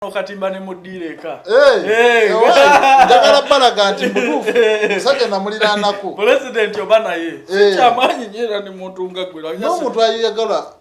okatimba ne muddiira eka njagala balaga nti mutuufu musajja namuliraanako pulezidenti oba naye sikyamaanyi nyo era ne muntu nga gwe n'omuntu ayagala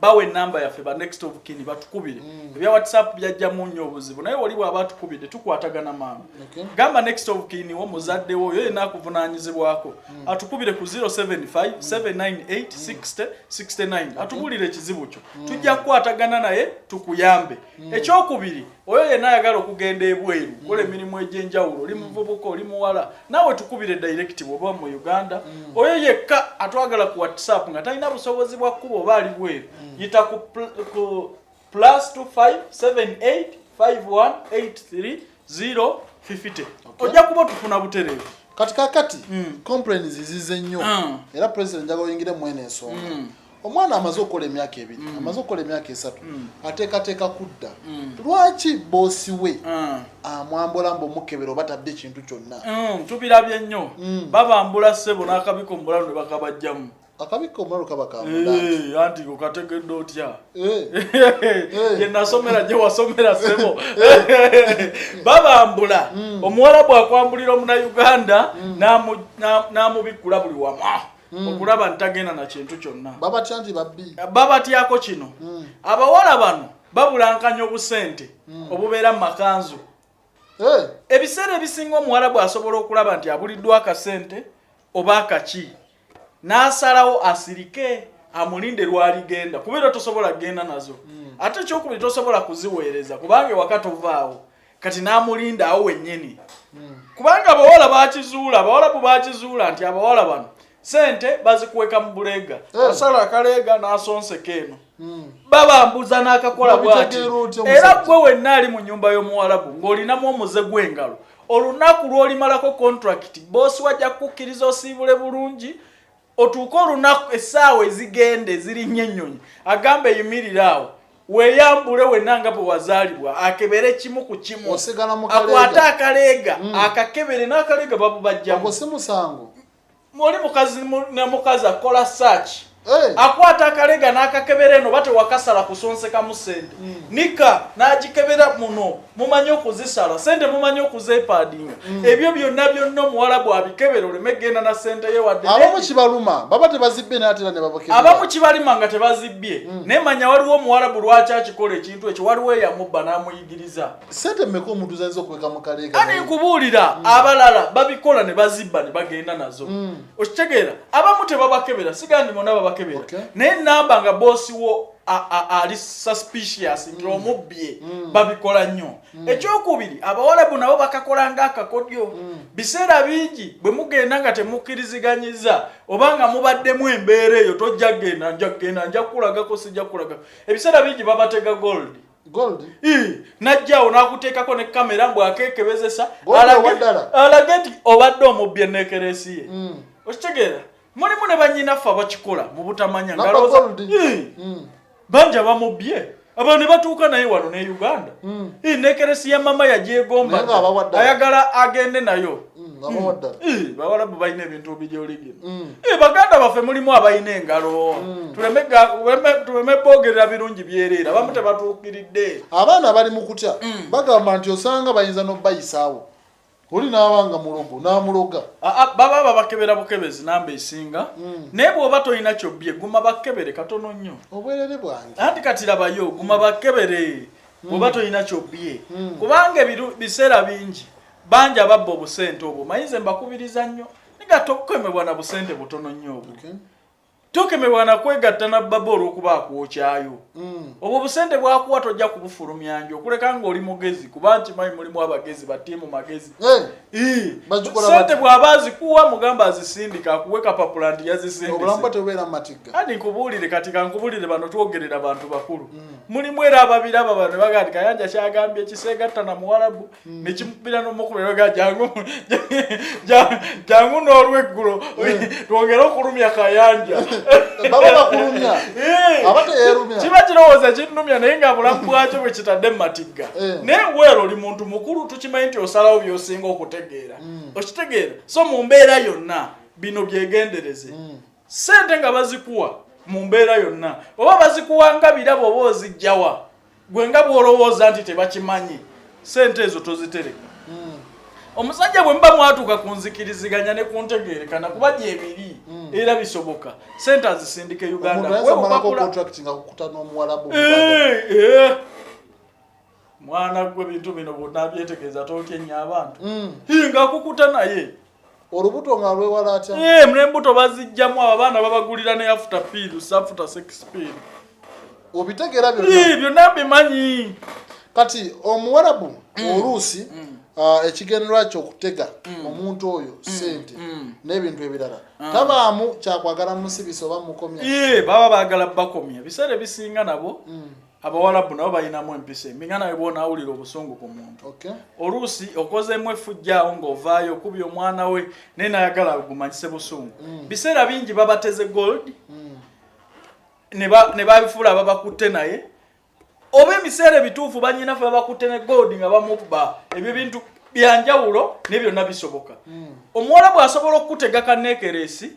bawe enamba yaffe ba next of kin batukubire mm. ebya whatsapp byajjamu nnyo obuzibu naye oli bwaba atukubidde tukwatagana maama okay. gamba next of kin wo muzadde wo oyo yena akuvunanyizibwako mm. atukubire ku 075 798 60 69 atubulire ekizibu kyo mm. tujja kukwatagana naye tukuyambe Hmm. ekyokubiri oyo yenna ayagala okugenda ebweru hmm. kola emirimu egyenjawulo oli hmm. muvubuka oli muwala naawe tukubire direct bwoba mu uganda oyo yekka atwagala ku whatsapp nga talina busobozi bwa kkuba oba ali bweru yita ku plus 25785183 0 50 ojja kuba tufuna butereevu kati kakati mm. complains zize nnyo mm. era president njaga oyingire mwene ensonga mm. omwana amaze okukola emyaka ebiri mm. amaze okukola emyaka esatu mm. ateekateeka kudda mm. lwaki boosi we mm. amwambula mbu omukebera oba tadde ekintu kyonna mm. tubirabye nnyo mm. babambula ssebo n'akabiko mu bulalu ne bakabajjamu akabikka omulalu kaba kamulanti anti okategedde otya gye nasomera gye wasomera sebo babambula mm. omuwala bwakwambulira omunauganda mm. n'amubikkula buli wamu mm. okulaba nti tagenda na kintu kyonna babatya nti babbi babatyako kino abawala bano babulankanya obusente obubeera mu makanzu ebiseera ebisinga omuwala bwasobola okulaba nti abuliddwa akasente oba akaki n'asalawo asirike amulinde lwaligenda kuba era tosobola kugenda nazo hmm. ate ekyokubiri tosobola kuziweereza kubanga ewaka tovaawo kati n'amulinda awo wennyini hmm. kubanga abawala bakizuula abawala bu bakizuula nti abawala bano sente bazikuweka mu buleega eh. asala akaleega n'asonseka eno hmm. babambuza n'akakola bwati era gwe wenna ali mu nyumba y'omuwalabu ng'olinamu omuze gw'engalo olunaku lw'olimalako kontrakiti boosi wajja kukukkiriza osiibule bulungi otuuke olunaku essaawa ezigenda ezirinnya ennyonyi agamba eyimirira awo weyambule wena nga bwe wazaalibwa akebere kimu ku kimu akwate akaleega mm. akakebere n'akaleega babubajjamu muli mukazi ne mukazi akola search hey. akwata akalega n'akakebera eno bate wakasala kusonsekamu sente mm. nika n'agikebera muno mumanyi okuzisala sente mumanyi okuzepaadinga mm. ebyo byonna byonna omuwala bwabikebera oleme genda na sente ye wadde abamu kibaluma baba tebazibbye natera ne babakebera abamu kibalima nga tebazibbye mm. naye manya waliwo omuwala bulwaki akikola ekintu ekyo waliwo eyamubba n'amuyigiriza sente mmeka omuntu zayinza okuweka mu kaleega ani nkubuulira mm. abalala babikola ne bazibba ne bagenda nazo mm. okitegeera abamu tebabakebera sigandi bona babakebera naye namba nga boosi wo ali suspicious nti mm. omubbye babikola nnyo ekyokubiri abawalabu nabo bakakola nga akakodyo biseera bingi bwe mugenda nga temukkiriziganyiza oba nga mubaddemu embeera eyo tojja kugenda nja kugenda nja kukulagako sijja kukulagako ebiseera bingi babatega gold najjawo nakuteekako ne kamera mbu akekebezesa alage nti obadde omubbi enekeresi ye mm. okitegeera mulimu ne banyinaffe abakikola mu butamanya mm. banja bamubbye abantu ne batuuka naye wano ne uganda mm. nekeresi ya mama yagyegomba ayagala agende nayo Mm, eh, bawalabu balina ebintu bijoligina mm. eh, baganda baffe mulimu abalina engalo mm. tuleme bogerera birungi byereera abamu tebatuukiridde abaana abali mu kutya bagamba nti osanga bayinza nobayisaawo oli naabanga mulogo namuloga ah, ah, baba babakebera bukebezi namba esinga naye bwoba tolina kyobbye guma bakebere katono nnyo obwerere bwange anti kati labayo guma bakebere bwoba tolina kyobbye kubanga biseera bingi bangi ababba obusente obwo maye nze mbakubiriza nnyo nga tokukemebwa na busente butono nnyo obwo okay. tokemebwa na kwegatta na baba olwokuba akwokyayo mm. obwo busente bwakuwa tojja kubufulumya njo okuleka ngaoli mugezi kuba nti mayi mulimu abagezi batiimu magezi eh, sente bwaba azikuwa mugamba azisindika akuwe kapapula nti yazisindikati nkubuulire kati kankubuulire bano twogerera bantu bakulu mm. mulimu era ababiraba bano bagandi kayanja kyagambye kiseegatta na muwalabu hmm. nekimubira nomukuberoga jangu jangu n'olweggulo hmm. twongere okulumya kayanja eh. kiba kirowooza kinnumya naye nga bulamu bwakyo bwe kitadde mumatigga eh. naye weero oli muntu mukulu tukimanyi nti osalawo byosinga okutegeera hmm. okitegeera so mu mbeera yonna bino byegendereze sente nga bazikuwa mu mbeera yonna oba bazikuwa nga birabo oba ozijjawa gwe nga bwolowooza nti tebakimanyi sente ezo tozitereka hmm. omusajja bwe muba mwatuuka ku nzikiriziganya ne ku ntegeerekana kuba gyebiri hmm. era bisoboka sente azisindika e uganda eh, eh. mwana gwe bintu bino bwonabyetegeeza totyenye abantu hmm. nga akukuta naye olubuto nga lwewala atya eh mune mbuto bazijjamu abaana babagulira ne after pill safuta sex pill obitegera byo eh byo nabe manyi kati omuwarabu mm. oluusi mm. Uh, ekigendererwa kyokutega mm. omuntu oyo mm. sente mm. n'ebintu ebirala ah. tabaamu kyakwagala musibisa oba mukomya baba bagala bakomya biseera ebisinga nabo abawalabu nabo balinamu empisa embi nga nawe bona awulira obusungu ku muntu okay. oluusi okozemu efujjaawo ng'ovaayo okubi omwana we naye nayagala agumanyise busungu mm. biseera bingi babateze gold mm. ne babifuula ababakutte naye oba ebiseera ebituufu banyinafe babakutte ne gold nga bamubba ebyo bintu byanjawulo naye byonna bisoboka mm. omuwalabu asobola okukutega kaneekereesi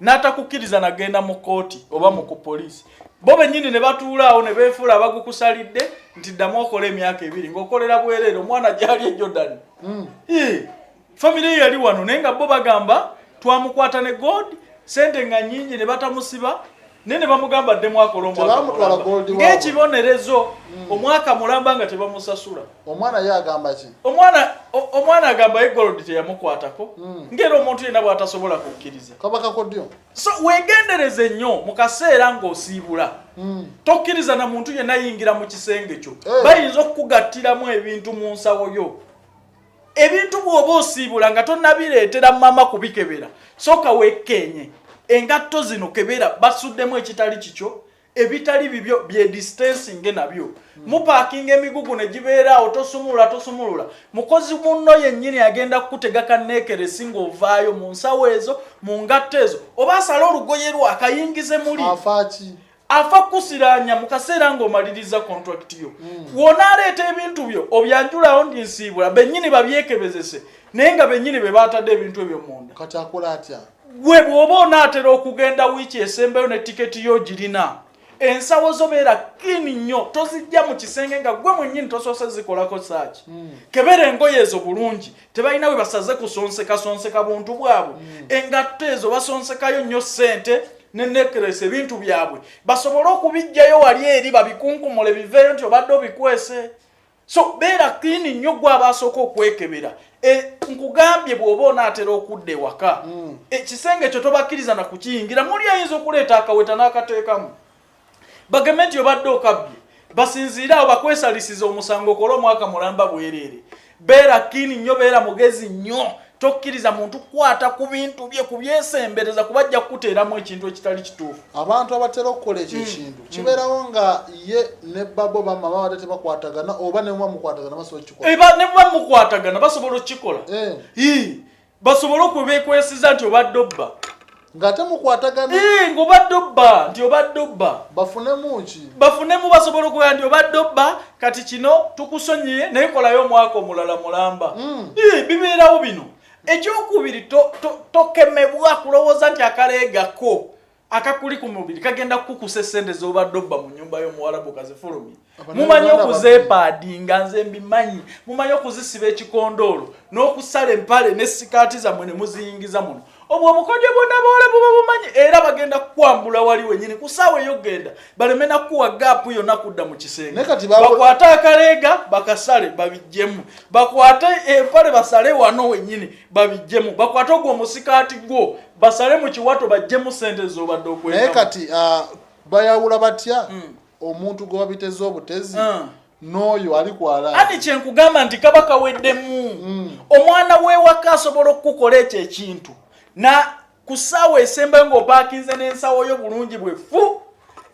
n'atakukkiriza nagenda mu kkooti oba mu ku poliisi bo bennyini ne batuulaawo ne beefuula abagukusalidde nti ddamu okola emyaka ebiri ng'okolera bwereere omwana gyali e jordan hmm. famire ye yali wano naye nga bo bagamba twamukwata ne god sente nga nyingi ne batamusiba naye ne bamugamba addemu akole omwakang'ekibonerezo hmm. omwaka mulamba nga tebamusasula omwana ye agamba ki omwana omwana agamba ye golodi teyamukwatako hmm. ngaera omuntu yenna bw'atasobola kukkiriza kabakakodyo so wegendereze nnyo mu kaseera ng'osiibula hmm. tokkiriza na muntu yenna yingira mu kisenge kyo eh. bayinza okukugattiramu ebintu mu nsawo yo ebintu bwoba osiibula nga tonabireetera mama kubikebera soka wekkeenye engatto zino kebera basuddemu ekitali kikyo ebitali bibyo byedistansinge nabyo hmm. mupakinga emigugu negibeeraawo tosumulula tosumulula mukozi munno yennyini agenda kukutega kaneekeresi ngaovaayo mu nsawo ezo mu ngatto ezo oba asale olugoye lwo akayingize muli afa kusiranya mu kaseera ng'omaliriza kontrakiti yo hmm. wonaleeta ebintu byo obyanjulawo ndi nsiibula bennyini babyekebezese naye nga bennyini be baatadde ebintu ebyo munda kati akola atya gwe bw'oba onaatera okugenda wiiki esembayo ne tiketi yo girina ensawo zo beera kini nnyo tozijja mu kisenge nga gwe mwennyini tosoose zikolako saaki hmm. kebera engoye ezo bulungi tebalina we basaze kusonseka sonseka buntu bwabwe mm. engatto ezo basonsekayo nnyo ssente nenekeresa ebintu byabwe basobole okubijjayo wali eri babikunkumule biveeyo nti obadde obikwese so beera klini nnyo gwe abaasooka okwekebera e, nkugambye bw'oba onaatera okudda ewaka mm. ekisenge ekyo tobakkiriza na kukiyingira muli ayinza okuleeta akaweta n'akateekamu bagambe nti obadde okabbye basinziire awo bakwesalisiza omusango okola omwaka mulamba bwereere beera kiini nnyo beera mugezi nnyo tokkiriza muntu kukwata ku bintu bye kubyesembereza kuba ajja kukuteeramu ekintu ekitali kituufu abantu abatera okukola ekyo mm. ekintu mm. kibeerawo nga ye ne babo bamama bate tebakwatagana oba nemuba mukwatagana basobola okukikola eh, nemuba mukwatagana basobola okukikola eh. basobole okubekwesiza nti obadde obba ng'ate mukwatagana eh, ng'obadde obba nti obadde obba bafunemu ki bafunemu basobola okuwera nti obadde obba kati kino tukusonyiye naye kolayo omwaka omulala mulamba hmm. eh, bibeerawo bino ekyokubiri tokemebwa kulowooza nti akaleegako akakuli ku mubiri kagenda kukukusa esente z'obadde obba mu nyumba y'omuwalabu kazifulumye mumanyi okuzeepaadinga nze mbimanyi mumanyi okuzisiba ekikondoolo n'okusala empale ne sikaati zammwe ne muziyingiza muno obwo obukodyo bwonna bawala buba bumanyi era bagenda kukwambula wali wenyini ku saawa ey'okugenda baleme nakuwa gaapu yonna kudda mu kisenge bakwate akaleega bakasale babijjemu bakwate empale basale wano wenyini babijjemu bakwate ogwo omusikaati gwo basale mu kiwato bajjemu sente zobadde okwenda naye kati uh, bayawula batya mm. omuntu gwe babiteze obutezi mm. n'oyo ali kwala ati kyenkugamba nti kaba kaweddemu mm. omwana w'ewaka asobola okukukola ekyo ekintu na ku ssaawa esembayo ng'opaakinze n'ensawo yo bulungi bwe fu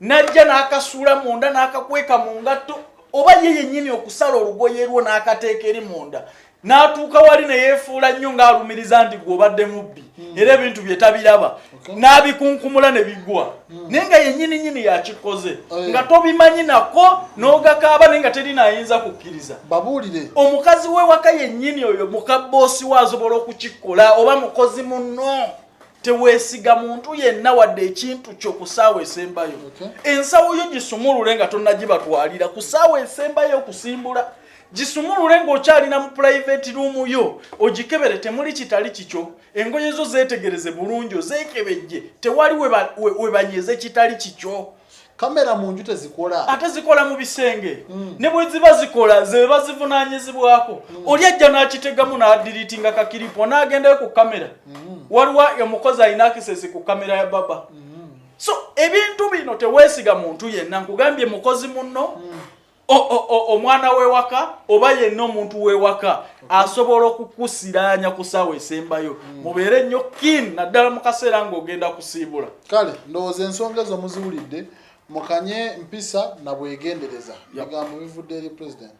n'ajja n'akasuula munda n'akakweka mu ngatto oba ye yennyini okusala olugoye lwo n'akateeka eri munda n'atuuka wali ne yeefuula nnyo ng'alumiriza nti gw'obadde mubbi hmm. era ebintu bye tabiraba n'abikunkumula ne bigwa hmm. naye nga yennyini nyini yakikoze oh, nga tobimanyi nako n'ogakaaba naye nga teri naayinza kukkiriza babuulire omukazi we waka yennyini oyo mukabboosi we asobola okukikola oba mukozi munno teweesiga muntu yenna wadde ekintu kyo ku ssaawa esembayo ensawo yo gisumulule nga tonnagibatwalira ku ssaawa esembayo okusimbula gisumulule ng'okyalina mu pulayiveti ruumu yo ogikebere temuli kitali kikyo engoye zo zeetegereze bulungi ozeekebejje tewali webanyeze kitali kikyo kamera mu nju tezikola ate zikola mu bisenge mm. ne bwe ziba zikola ze bazivunaanyizibwako mm. oli ajja n'akitegamu n'adiriitinga kakiripo n'agendayo ku kamera mm. waliwo omukozi alina akisesi ku kamera ya baba mm. so ebintu bino teweesiga muntu yenna nkugambye mukozi munno mm. omwana wewaka oba yenna omuntu wewaka asobola okukusiranya ku saawa esembayo hmm. mubeere nnyo kin naddala mu kaseera ng'ogenda kusiibula kale ndowooza ensonga ezo muziwulidde mukanye mpisa na bwegendereza bigambo bivudde eri pulezidenti